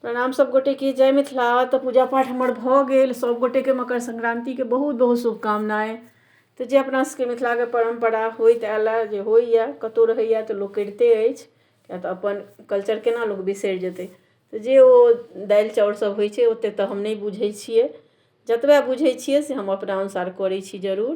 प्रणाम सब गोटे के जय मिथिला तऽ पूजा पाठ हमर भऽ गेल सब गोटे के मकर संक्रांति के बहुत बहुत शुभकामनाएं तऽ जे अपना सबके मिथिला के परम्परा होइत आयल जे होइया कतौ रहैया तऽ लोक करिते अछि किया तऽ अपन कल्चर केना लोक बिसरि जेतै तऽ जे ओ दालि चाउर सब होइ छै ओते तऽ हम नहि बुझै छियै जतबे बुझै छियै से हम अपना अनुसार करै छी जरूर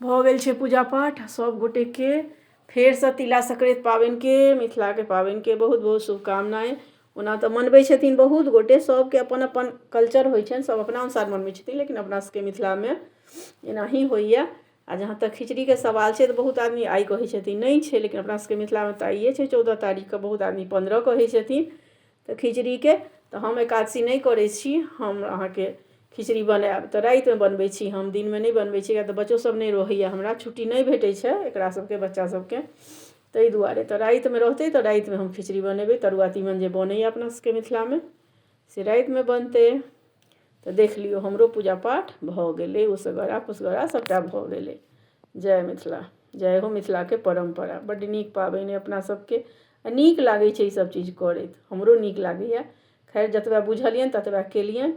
भऽ गेल छै पूजा पाठ सभ गोटेके फेरसँ तिला सङ्क्रान्ति पाबनिके मिथिलाके पाबनिके बहुत बहुत शुभकामनाएँ ओना तऽ मनबै छथिन बहुत गोटे सभके अपन अपन कल्चर होइ छनि सभ अपना अनुसार मनबै छथिन लेकिन अपना सभके मिथिलामे एनाही होइए आ जहाँ तक खिचड़ीके सवाल छै तऽ बहुत आदमी आइ कहै छथिन नहि छै लेकिन अपना सभके मिथिलामे तऽ आइए छै चौदह तारीखके बहुत आदमी पन्द्रह कहै छथिन तऽ खिचड़ीके तऽ हम एकादशी नहि करै छी हम अहाँके खिचड़ी बनायब तऽ रातिमे बनबै छी हम दिनमे नहि बनबै छी किएक तऽ बच्चो सब नहि रहैये हमरा छुट्टी नहि भेटै छै एकरा सबके बच्चा सबके तै दुआरे तऽ रातिमे रहतै तऽ रातिमे हम खिचड़ी बनेबै तरुआ तीमन जे बनैये अपना सबके मिथिलामे से रातिमे बनतै तऽ देख लियौ हमरो पूजा पाठ भऽ गेलै उसरगरा पुसगरा सबटा भऽ गेलै जय मिथिला जय हो मिथिलाके परम्परा बड्ड नीक पाबनि अइ अपना सबके आ नीक लागै छै ईसभ चीज करैत हमरो नीक लागैए खैर जतबे बुझलियनि ततबे केलियनि